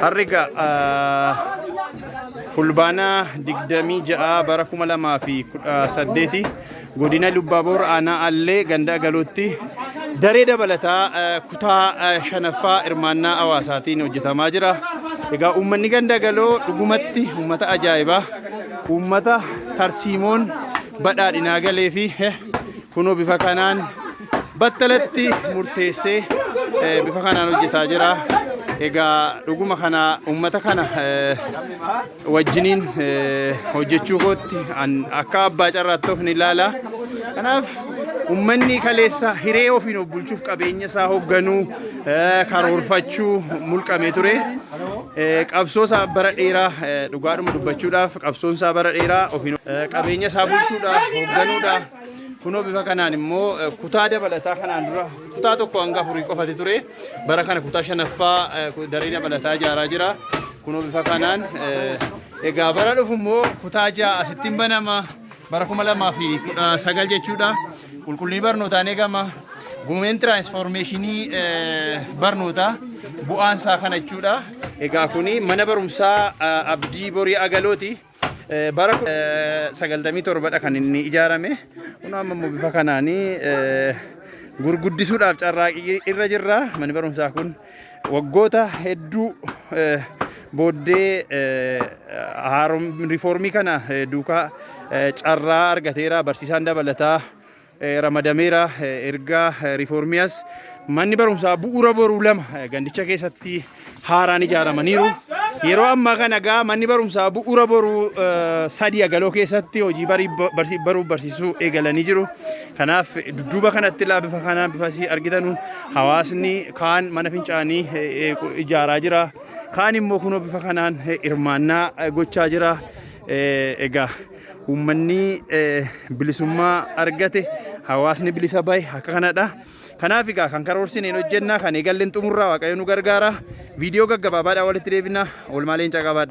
Harri fulbaana 26 bara 2018 godina Lubbaaboor aanaa Allee gandaa galuutti daree dabalataa kutaa shanaffaa hirmaannaa hawaasaatiin hojjetamaa jira. Egaa uummanni gandaa galoo dhugumatti uummata ajaa'ibaa uummata tarsiimoon badhaadhinaa galee fi kunoo bifa kanaan battalatti murteessee bifa kanaan hojjetaa jira. Egaa dhuguma kana uummata kana wajjiniin hojjechuu kootti akka abbaa carraatti of ni ilaala. Kanaaf uummanni kaleessa hiree ofiin of bulchuuf qabeenya isaa hoogganuu karoorfachuu mulqamee ture. Qabsoo isaa bara dheeraa dhugaadhuma dubbachuudhaaf qabsoon isaa bara dheeraa ofiin qabeenya isaa bulchuudhaaf hoogganuudhaaf Kunoo bifa kanaan immoo eh, kutaa dabalataa kanaan dura kutaa tokko hanga afurii qofati ture. Bara kana kutaa shanaffaa eh, ku- daree dabalataa ijaaraa jira. Kunoo bifa kanaan eh, egaa bara dhufu immoo kutaa ja'a asittiin banama. Bara kuma lamaa fi kudha sagal jechuudha. Qulqullinni barnootaan eegama. Gumeen tiraansfoormeeshinii eh, barnootaa bu'aan isaa kana jechuudha. Egaa kuni mana barumsaa eh, abdii borii agalooti. Bara 97 dha kan inni ijaarame. Kun amma immoo bifa kanaanii gurguddisuudhaaf carraaqii irra jirra. Manni barumsaa kun waggoota hedduu booddee riifoormii kana duukaa carraa argateera. Barsiisaan dabalataa ramadameera. Ergaa riifoormiyaas manni barumsaa bu'uura boruu lama gandicha keessatti haaraan ijaaramaniiru. Yeroo ammaa kana egaa manni barumsaa bu'uura boruu sadii agaloo keessatti hojii baruuf barsiisuu eegalanii jiru. Kanaaf dudduuba kanatti ilaa bifa kanaa bifa asii argitanu hawaasni kaan mana fincaanii ijaaraa jira. Kaan immoo kunoo bifa kanaan hirmaannaa gochaa jira. Egaa. Uummanni bilisummaa argate hawaasni bilisa bahe akka kanadha. Kanaaf egaa kan karoorsine hin hojjenna kan eegalle hin xumurra waaqayyo nu gargaara. Viidiyoo gaggabaabaadhaan walitti deebina. Oolmaa leencaa qabaadha.